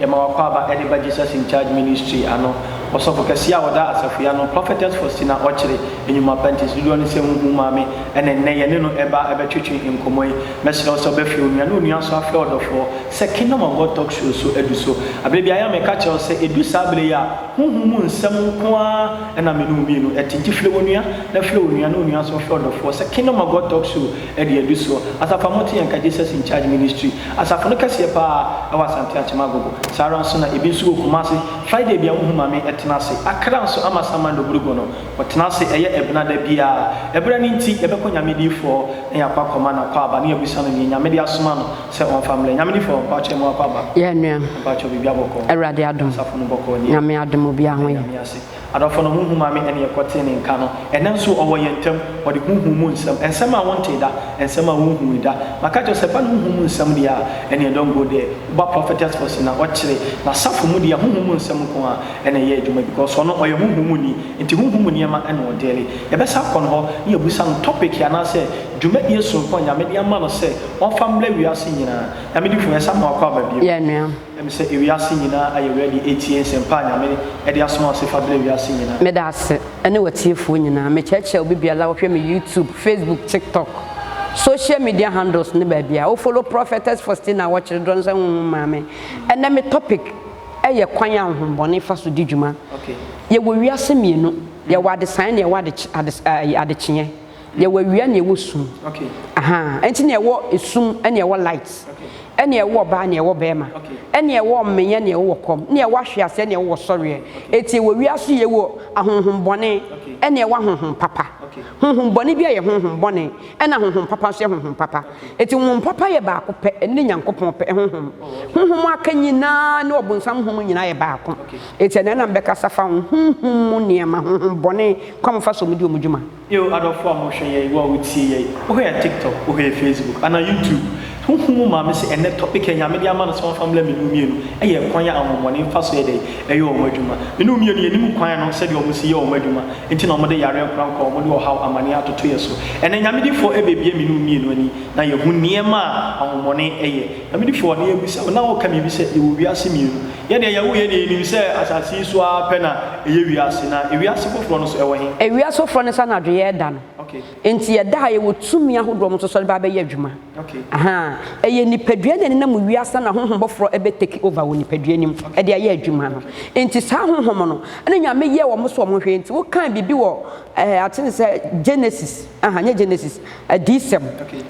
Yɛma w'akwaaba ɛde ba Jesus in Charge Ministry ano. Ɔsɔfo kɛseɛ a ɔda Asafua ano, Prophetess Faustina Ɔkyere, enyuma pantis dodoɔ no sɛ huhu maame ɛna nnɛ yɛne no ɛba ɛbɛtwetwe nkɔmɔ yi. Mɛsrɛ wo sɛ ɔbɛfrɛ onua ne onua nso afrɛ ɔdɔfoɔ sɛ Kingdom of God Talk Show so adu so. Aberɛ biara yɛ a meka kyerɛ wo sɛ ɛdu saa berɛ yi a honhom mu nsɛm nko ara ɛna me ne wo mmienu ɛte nti frɛ w'onua na frɛ onua ne onua nso mfrɛ ɔdɔfoɔ sɛ Kingdom of God Talk Show ɛde adu soɔ. Asafo a mote yɛn nka Jesus in Charge Ministry Asafo no kɛseɛ pa ara ɛwɔ Asante Akyem Agogo, saa ara nso na ebi nso wɔ Kumase, Friday bia wohu Mame ɛtena ase, Accra nso Amasaman Nogrugo no wɔtena ase ɛyɛ ɛbena da biara, ɛberɛ no nti yɛbɛkɔ Nyamedifoɔ na yɛakɔ akɔma no akwaaba na yɛabisa no neɛ Nyame de asoma no sɛ ɔmfa mmrɛ Nyamedifoɔ mpakyɛ mo akwaaba Yɛn nua, mpakyɛ biribi abɔkɔɔ Awurade adom, Asafo no bɔkɔɔ nie, Nyame adom obiara ho yɛ. Yɛda Nyame ase. Adɔfo no, honhom a me ne yɛn kɔtee ne nka no, ɛnnɛ nso ɔwɔ yɛn ntam. Ɔde honhom mu nsɛm, nsɛm a wontee da, nsɛm a wonhui da. Maka akyerɛ wo sɛ, fa no honhom mu nsɛm deɛ a, ɛnneɛ don't go there. Woba Prophetess Fossey na ɔkyere n'asafo mu deɛ a, honhom mu nsɛm nko ara na ɛyɛ adwuma because ɔno ɔyɛ honhom mu ni, nti honhom mu nneɛma na ɔdeale. Yɛbɛsan akɔ ne hɔ na yɛabisa no topic anaasɛ dwumadie sononko a Nyame de ama no sɛ ɔmfa mmrɛ wiase nyinaa. Nyame difo, yɛsan ma wo akwaaba bio. Yɛn nua, Ɛm sɛ ewiase nyinaa ayɛ ready atie nsɛmpa a Nyame de asoma ɔse fa brɛ wiase nyinaa. Meda ase ɛne w'atiefoɔ nyinaa. Mekyerɛkyerɛ obi biara a ɔhwɛ me YouTube, Facebook, TikTok, social media handles ne baabi a wo follow Prophetess Faustina a wɔkyere dorɔ no sɛ Honhom Maame. Ɛnnɛ me topic yɛ kwan a honhombɔne fa so di dwuma. Yɛwɔ wiase mmienu, yɛwɔ adesaeɛ na yɛwɔ adekyeɛ. Yɛwɔ awia na yɛwɔ sum. Okay. Ahaa. Ɛnti na ɛwɔ esum ɛna ɛwɔ light. Okay. Ɛna ɛwɔ ɔbaa na ɛwɔ bɛɛma. Okay. Ɛna ɛwɔ ɔmenyɛ na ɛwɔ kɔm. Ɛna ɛwɔ ahweaseɛ na ɛwɔ sɔreɛ. Okay. Ɛti ɛwɔ wia so yɛwɔ ahonhom bɔne. Okay. Ɛna ɛwɔ ahonhom papa. Okay. Honhom bɔne bia yɛ honhom bɔne. Ɛna honhom papa nso yɛ honhom papa. Okay. Ɛti honhom papa yɛ baako pɛ. Ɛne Nyankopɔn pɛ honhom. Oh, okay. Honhom aka nyinaa ne ɔbonsam honhom nyinaa yɛ baako. Okay. Ɛti ɛna ɛna mbɛkasa fa honhom mu nneɛma, honhom bɔne, kwan fa so ɔmo di ɔmo dwuma. Eeo adɔfoɔ a mo hwɛ yɛn, wo a wo tie yɛn, wo hwɛ yɛn tiktok, wo hwɛ yɛn facebook, anaa youtube, ho hu mo maame sɛ ɛnnɛ topic a Nyame de ama no sɛ wɔnfa mmla mene wo mmienu ɛyɛ ɛkwan a ahonhommɔne nfa so yɛ dɛn ɛyɛ wɔn adwuma. Mene wo mmienu yɛ nim kwan no sɛdeɛ wɔn si yɛ wɔn adwuma nti na wɔde yareɛ nkorankora a wɔn de ɔhaw amaneɛ atoto yɛ so. Ɛnnɛ Nyame difoɔ ɛbɛbue mene wo mmienu ani na yɛahu nneɛma a ahonhommɔne ɛyɛ. Abidifo, ɔne yɛabisa wo na woka biribi sɛ yɛwɔ wiase mmienu. Yɛdeɛ yɛwo yɛdeɛ yɛnim sɛ asase yi so ara pɛ na ɛyɛ wiase, na ewiase foforɔ no nso ɛwɔ he? Ewiase foforɔ no sɛ anadwo yɛreda no. Enti yɛda ha, yɛwɔ tumi ahodoɔ mo nso sɔre ba bɛyɛ adwuma. Ahaa, ɛyɛ nipadua na ɛnenam wo wiase na honhom foforɔ ɛbɛ take over wɔ nipadua no mu ɛde ayɛ adwuma no. Enti saa honhom no ɛna Nyame yɛɛ wɔn so wɔn hwɛɛ, enti wokaa biribi wɔ ɛɛ atene sɛ Genesis, ahaa nyɛ Genesis, Adiyisɛm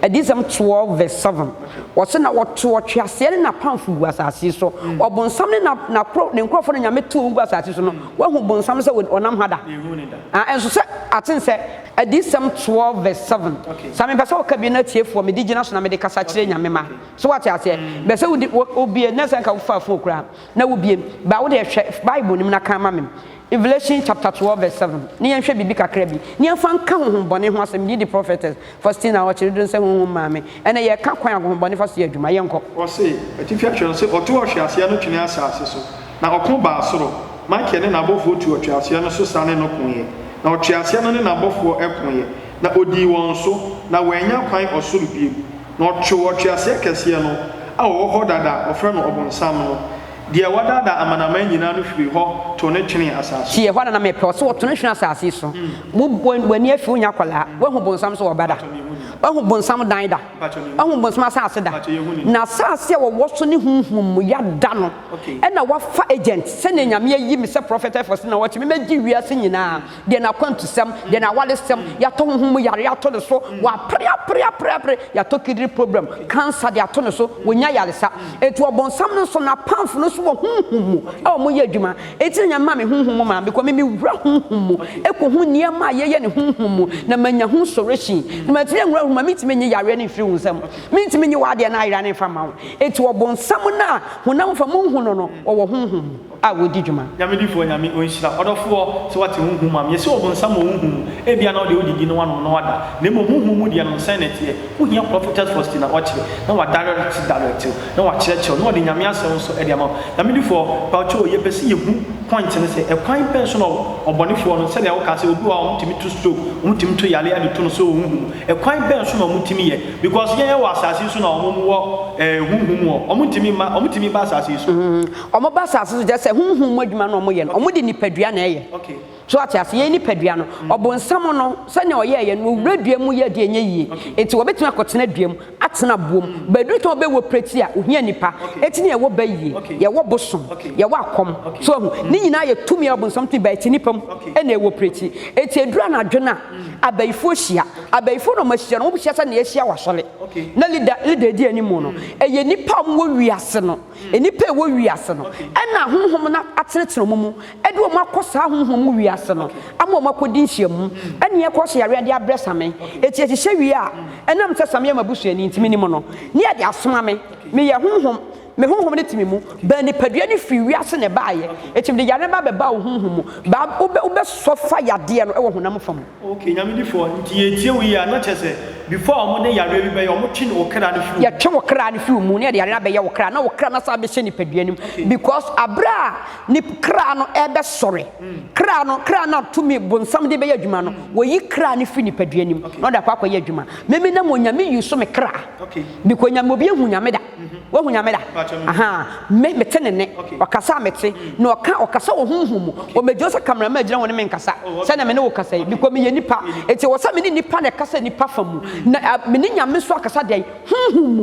Adiyisɛm twelve vs seven, wɔse na wɔtoo ɔtweaseɛ ne n'apamfo guu asase so. Ɔbonsam ne n'akoro ne nkurɔfoɔ na Nyame too wɔn guu asase so no, woahu bonsam no sɛ ɔnam ha da? Menhuu no da. Ah, nso sɛ aten sɛ Adiyisɛm twelve vs seven, saa mepɛ sɛ woka bie na atiefoɔ mede gyina so na mede kasa kyerɛ Nyame mma. So woate aseɛ? Mepɛ sɛ wode, wobie, na sɛ anka wofaa fon koraa a, na wobie. Ba, wode hwɛ Bible no mu na kan ma me. Revelation chapter twelve verse seven ne yɛn hwɛ biribi kakra bi ne yɛn fa nka honhom bɔne ho asɛm didi prophetess Faustina ɔkyere duro nsɛ honhom maame ɛna yɛ ka kwan ahohom bɔne fa so yɛ adwuma yɛn kɔ. Ɔse, Atifi atwerɛ no se, Ɔtoo ɔtweaseɛ no twenee asase so, na ɔko baa soro. Mikael ne n'abɔfoɔ tuu ɔtweaseɛ no so sa ne no koeɛ, na ɔtweaseɛ no ne n'abɔfoɔ koeɛ, na ɔdii wɔn so, na wɔannya kwan ɔsoro bio. Na ɔtwoo ɔtweaseɛ kɛseɛ no a ɔwɔ hɔ dada a wɔfrɛ no Ɔbonsam no, Deɛ wadaadaa amanaman nyinaa no firii hɔ too no twenee asase so. Tie, hɔ ara na mepɛ wo sɛ woto no twene asase so. Wo, wo, w'ani afi wonya akwadaa. Woahu bonsam so ɔba da? Woahu bonsam dan da? Woahu bonsam asase da? Na asase a wɔwɔ so ne honhom mu ya da no, ɛna wafa agent, sɛdeɛ Nyame ayi me sɛ prɔfɛtɛfɔse na wɔte me mɛgye wiase nyinaa deɛ n'akwantusɛm, deɛ n'awaresɛm, yɛatɔ honhom mu yareɛ ato ne so, wapere apere apere apere, yɛatɔ kidney problem, cancer de ato ne so, wɔnya yaresa. Eti ɔbɔnsam no nso n'apamfo no nso wɔ honhom mu a wɔyɛ adwuma. Eti na nyame ma me honhom mu maa mekɔ me mewura honhom mu ɛkɔhu nneɛma a yɛyɛ ne honhom mu na manya ho solution. Na matumi anwura honhom mu a mentumi nye yareɛ no mfiri wo nsam, mentumi nye w'adeɛ no ayera no mfa mma wo. Eti ɔbɔnsam no a honam fa monhu no no ɔwɔ honhom mu. a wɔdi dwuma. Nyame difoɔ Nyame ɔnhyira ɔdɔfoɔ sɛ wate ho nhu ma me yɛse ɔbonsam wɔ wo nhu mu ebia na wode wode di na wanom na wada na mmom wo nhu mu deɛ no sɛn na ɛteɛ wohia Prophetess Fosti na ɔkyere na wadirect direct wo na wakyerɛkyerɛ wo na ɔde Nyame asɛm nso de ama wo Nyame difoɔ bawkyoo yɛpɛ sɛ yɛhu point no sɛ ɛkwan bɛn so na ɔbɔnefoɔ no sɛdeɛ wokaa sɛ obi wɔ hɔ a wɔtumi to stroke wɔtumi to yareɛ de to no sɛ ɔwɔ wo nhu mu ɛkwan bɛn so na wɔtumi yɛ because yɛn yɛwɔ asase yi so na wɔn wɔ eh, honhom wɔ wɔtumi mma wɔtumi ba asase yi so. Wɔba asase so kyɛ sɛ honhom mu adwuma na wɔyɛ no, wɔde nipadua na ɛyɛ. So ate ase? Yɛn nipadua no, ɔbonsam no, sɛnea ɔyɛɛ yɛn no, owura dua mu yɛ deɛ ɛnyɛ yie. Enti wɔbɛtumi akɔtena dua mu, atena aboɔ mu, but ɛduru sɛ wɔbɛ wɔprɛti a, ohia nipa. Eti na yɛwɔ ba yie, yɛwɔ bosom, yɛwɔ akɔm. So wahu? Ne nyinaa yɛ tumi a ɔbonsam tumi but ɛte nipa mu ɛna ɛwɔprɛti. Eti ɛduru anadwo no a, abayifoɔ hyia. Abayifoɔ na wɔahyia no, wɔhyia sɛnea yɛahyia wɔ asɔre, na leader, leader a ɛdi anim no, ɛyɛ nipa a wɔwɔ wiase no. Nnipa a ɛwɔ wiase no, ɛna ahonhom no atenetene wɔn mu, ɛde wɔn akɔ saa ahonhom mu wiase no, ama wɔn akɔdi nhyiamu, ɛne ɛkɔ hyɛ yareɛ de abrɛ same. Eti ɛhyehyɛ wie a, ɛnam sɛ same yɛ m'abusuani nti, menim no, ne ɛde asoma me. Meyɛ honhom, me honhom no te me mu. Baa nipadua no firii wiase na ɛbaeɛ, enti mede yareɛ no ba bɛbaa wo honhom mu. Baa, wobɛ, wobɛsɔ fa yadeɛ no wɔ honam fa mu. Ok nyame difoɔ nti yɛtie wo yie a na kyerɛ sɛ before a wɔde yareɛ bi bɛyɛ wɔn twe wo kra no firi wo mu. Yɛtwe wo kra no firi wo mu na yɛde yareɛ no abɛyɛ wo kra na wo kra no asan abɛhyɛ nipadua no mu because aberɛ a nip kra no ɛrebɛsɔre kra no kra no a tumi bonsam de bɛyɛ adwuma no wɔyi kra no firi nipadua no mu na ɔde akɔ akɔyɛ adwuma meme nam onyame use me kra because nyame obi ahu nyame da. Woahu Nyame da? Ahaa. Me, mete Ne nne. Ɔkasa a mete, na Ɔka, Ɔkasa wɔ honhom mu. Omegye sɛ camera man gyina hɔ ne me nkasa, sɛnea me ne wo kasa yi, because meyɛ nipa. Enti ɛwɔ sɛ me ne nipa na ɛkasa nipa fa mu, na a, me ne Nyame nso akasa dɛn? Honhom mu.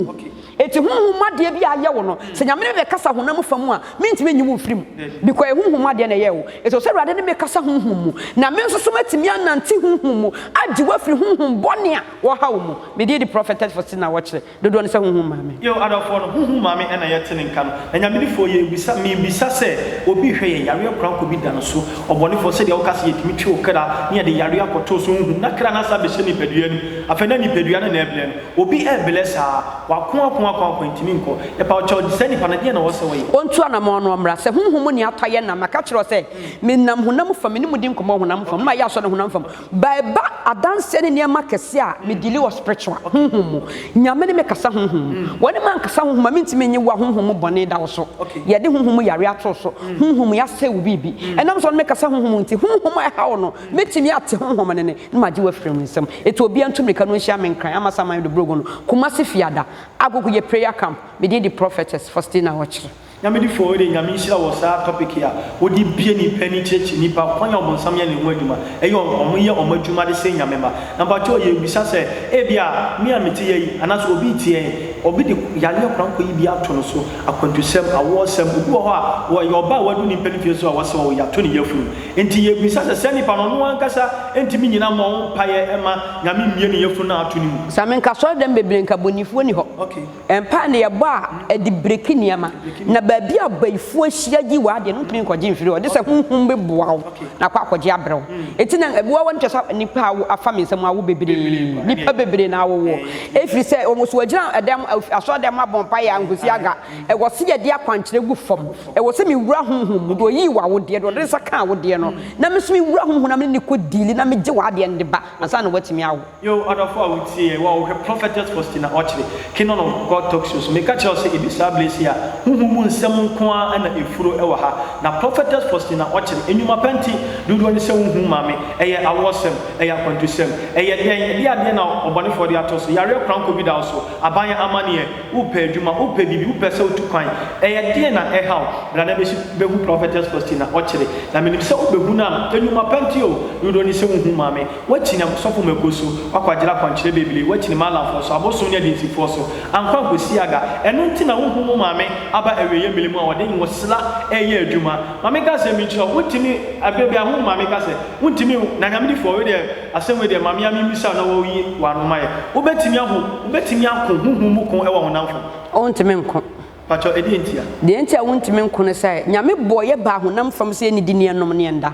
Enti honhom mu adeɛ bi a ayɛ wo no, sɛ Nyame ne me bɛkasa honam fa mu a, mentumi nyi wo mfiri mu, because ɛyɛ honhom mu adeɛ na ɛyɛɛ wo. Enti ɛwɔ sɛ Awurade ne me kasa honhom mu, na me nso so matumi anante honhom mu, agye wo afiri honhom bɔne a wɔhaw wo mu. Medin de Prophetess Faustina Wɔkyerɛ. Dodoɔ no sɛ honhom maame. Yeo adɔfoɔ no, honhom maame ɛna yɛ te ne nka no. Anyamedifoɔ, yɛ bisa, me bisa sɛ obi rehwɛ yɛn, yareɛ koraa nkobi da no so. Ɔbɔnefoɔ, sɛdeɛ wo ka sɛ yɛtumi twe wo kra, na yɛde yareɛ akɔto so, honhom, na kra no asan abɛhyɛ nipadua no mu. Afei na nipadua no na ɛreblɛ no. Obi reblɛ saa, wako, ako, ako, ako, ɛntumi nkɔ. Yɛpa wo kyɛw, saa nipa no, deɛn na ɛwɔ sɛ ɔyɛ? Ɔntu anamɔn na ɔmmra. Sɛ honhom mu nea atɔ yɛ nam, maka akyerɛ wo sɛ, menam honam fam, me ne mo di nkɔmmɔ honam fam, na mayɛ asɔ no honam fam. Ba ɛba adanseɛ ne nneɛma kɛseɛ a me dili wɔ spiritual, honhom mu. Nyame ne me kasa honhom mu. Wɔ ne mankasa honhom a mentumi nye woa honhom mu bɔne da wo so. Yɛde honhom mu yareɛ ato wo so. Honhom mu yɛasɛe wo biribi. Ɛnam sɛ ɔne me kasa honhom mu nti, honhom a ɛha wo no, mɛtumi ate honhom no nne na magye wo afiri me nsam. Eti obiara ntu mmirika no nhyia me nkran, Amasaman Dobrogo no, Kumasi Fiada, Agogo yɛ prayer camp, me din de Prophetess Faustina Ɔkyere. Nyame di fɔɔ de Nyame nhyira wɔ saa topic yi a wode bie nipa ani kyerɛkyerɛ nipa kwan a ɔbonsam yɛ ne ho adwuma ɛyɛ ɔmo yɛ ɔmo adwuma de sɛe Nyame ma na mpakyɛw yɛ bisa sɛ ebia me a mete yɛ yi anaasɛ obi te yɛ yi obi de yareɛ kwan kɔ yi bi ato no so akwantusɛm awoɔ sɛm obi wɔ hɔ a ɔyɛ ɔbaa wadu nipa no fie so a wɔ sɛ ɔwo yato ne yafunu nti yɛ bisa sɛ saa nipa no ɔno ankasa ntumi nyina mmɔ ho mpaeɛ mma Nyame mmie ne yafunu no a ato ne mu. Sɛ menka asɔre dɛm bebree nka bonifuo ni hɔ. Ok. Mpae no yɛ bɔ a ɛde breki nneɛma, na baabi a bayifoɔ ahyia gye wɔ adeɛ no wontumi nkɔgye mfiri hɔ, gye sɛ honhom bɛboa wo na kɔ akɔgye abrɛ wo. Enti na ɛboa wo a na kyerɛ sɛ nnipa a awo afa me nsam awo bebree, nnipa bebree na awo woɔ, ɛfiri sɛ wɔn nso wɔagyina ɛdan mu, asɔredan mu abɔ mpaeɛ a nkɔsi aga, ɛwɔ sɛ yɛde akwankyerɛ gu fam, ɛwɔ sɛ mewura honhom mu, deɛ ɔyii wo awodeɛ, deɛ ɔde ne nsa kaa awodeɛ no, na me nso mewura honhom mu na mene no kɔ diili na megye w'adeɛ no de ba ansa na woatumi awo. Yo, ɔdɔfo a wutie yɛn, wo a wohwɛ Prophetess Faustina Okyere, Kingdom of God Talk Show so, meka kyerɛ wo sɛ edu saa bere sei a, honhom mu nsɛm nko ara na efuro wɔ ha. Na Prophetess Faustina Okyere, nnwuma pa nti, dodoɔ ne sɛ wonhu ma me. Ɛyɛ awoɔsɛm, ɛyɛ akwantusɛm, ɛyɛ dɛn, ɛdeɛ adeɛ na ɔbɔnefoɔ de ato so, yareɛ korankɔ bi da wo so, aban amanneɛ, wopɛ adwuma, wopɛ biribi, wopɛ sɛ wotu kwan, ɛyɛ deɛn na ɛha wo? Bra na bɛsi bɛhu Prophetess Faustina Okyere, na menim sɛ wobɛhu no a, nnwuma pa nti o, dodoɔ ne sɛ wonhu ma me. Woakyini abosɔfo ma agu so, woakwagyera akwankyerɛ bebree, woakyini Maalamfoɔ so, abosom ne adinsifoɔ so, ankɔ ankɔsi Aga, ɛno nti na wonhu wo maame aba awieeɛ mmere mu a ɔde nwosela reyɛ adwuma. Maame ka sɛ, Menkyerɛ wo, wontumi, berɛ biara ho maame ka sɛ, wontumi, na Nyame difoɔ, wei deɛ, asɛm wei deɛ, ma me ara memmisa wo na woyi w'ano ma yɛ. Wobɛtumi ahu, wobɛtumi ako honhom mu ko wɔ honam fam. Wontumi nko. Pakyɛ ɛdeɛ ntia? Deɛ nti a wontumi nko ne sɛ Nyame bɔɔ yɛ baa honam fam sɛ yɛnidi ne yɛnnom ne yɛnda.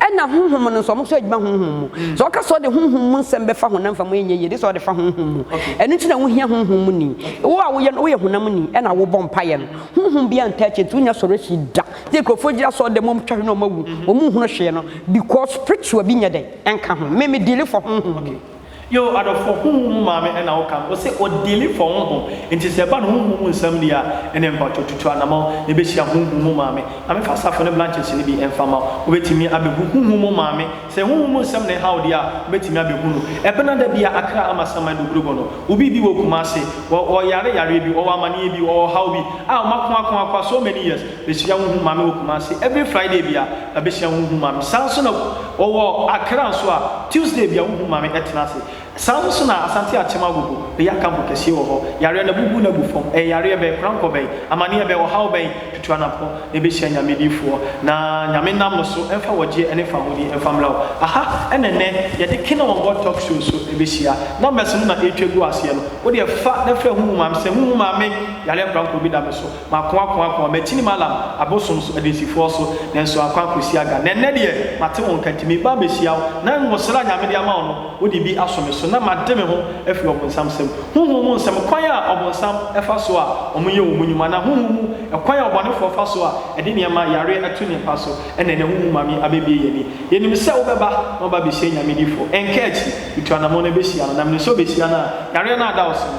Ɛna honhom no nso ɔmo nso adwuma honhom mu. Mm. Sɛ ɔka sɛ ɔde honhom mu nsɛm bɛfa honam fam ɛnyɛ yie de sɛ ɔde fa honhom mu. Ɛno nti na wohia honhom mu ni. Wo a woyɛ no woyɛ honam ni ɛna wobɔ mpaeɛ no. Honhom biara ntaa akyi nti wonya sɔre akyi da. Sɛ nkurɔfoɔ gyina sɔre dɛm ɔmo twa hwene ɔmo awu. Ɔmo nhunu hwee no because spiritual bi nyɛ dɛn ɛnka ho. Me me deal for honhom mu. Yoo adɔfoɔ honhom mu maame ɛna wo ka no ɔse ɔ dealing for honhom nti sɛ ɛba no honhom mu nsɛm deɛ a ɛneɛ mpakyɛw tutu anamɔn na ɛbɛhyia honhom mu maame maame fa safo ne blanches no bi ɛmfa ma wo wobɛtumi abɛhu honhom mu maame sɛ honhom mu nsɛm na ɛha wo deɛ a wobɛtumi abɛhu no ɛbena da bi a akra ama saman dogorogo no wo bi bi wɔ kumase ɔ ɔyare yareɛ bi ɔwɔ amaneɛ bi ɔwɔ ɔhaw bi a wɔakoakoakoa so many years Bɛsua wo hu ma me wɔ Kumasi every Friday bia na bɛsua wo hu ma me saa nso na wɔwɔ Accra nso a Tuesday bia wo hu ma me ɛtena ase saa nso na Asante Akyem Agogo bɛyɛ akanfo kɛseɛ wɔ hɔ yareɛ no abubu no agu fam ɛyɛ yareɛ bɛn korankɔ bɛn amaneɛ bɛn ɔhaw bɛn tutu anapɔ na ɛbɛhyia Nyame difoɔ na Nyame nam no so ɛmfa wɔgyeɛ ɛne fahodi ɛmfa mmra wo aha ɛna ɛnɛ yɛde Kene wɔn bɔ talk show so ɛbɛhyia numbers no na ɛretwa gu aseɛ no wodeɛ fa na frɛ hu hu ma me sɛ hu hu ma me yareɛ korankɔ bi da me so Mako ako ako, makyinim Alam abosom so adansifoɔ so, nanso akɔ akɔsi aga. Na ɛnnɛ deɛ, mate wo nka, nti mereba abɛhyia wo, na nwosere a Nyame de ama wo no, wode bi aso me so, na made me ho afiri ɔbonsam nsam. Honhom mu nsɛm, kwan a ɔbonsam fa so a wɔyɛ wɔn nnwuma, anaa honhom mu kwan a ɔbɔnefoɔ fa so a ɛde nneɛma, yareɛ, to ne mpa so, ɛna ɛnnɛ honhom maame abɛbue yɛn ani. Yɛnim sɛ wobɛba, na woaba abɛhyia Nyame difoɔ. Ɛnka akyiri, metu anamɔn abɛhyia no, na menim sɛ wobɛhyia no a, yareɛ no ada wo so no,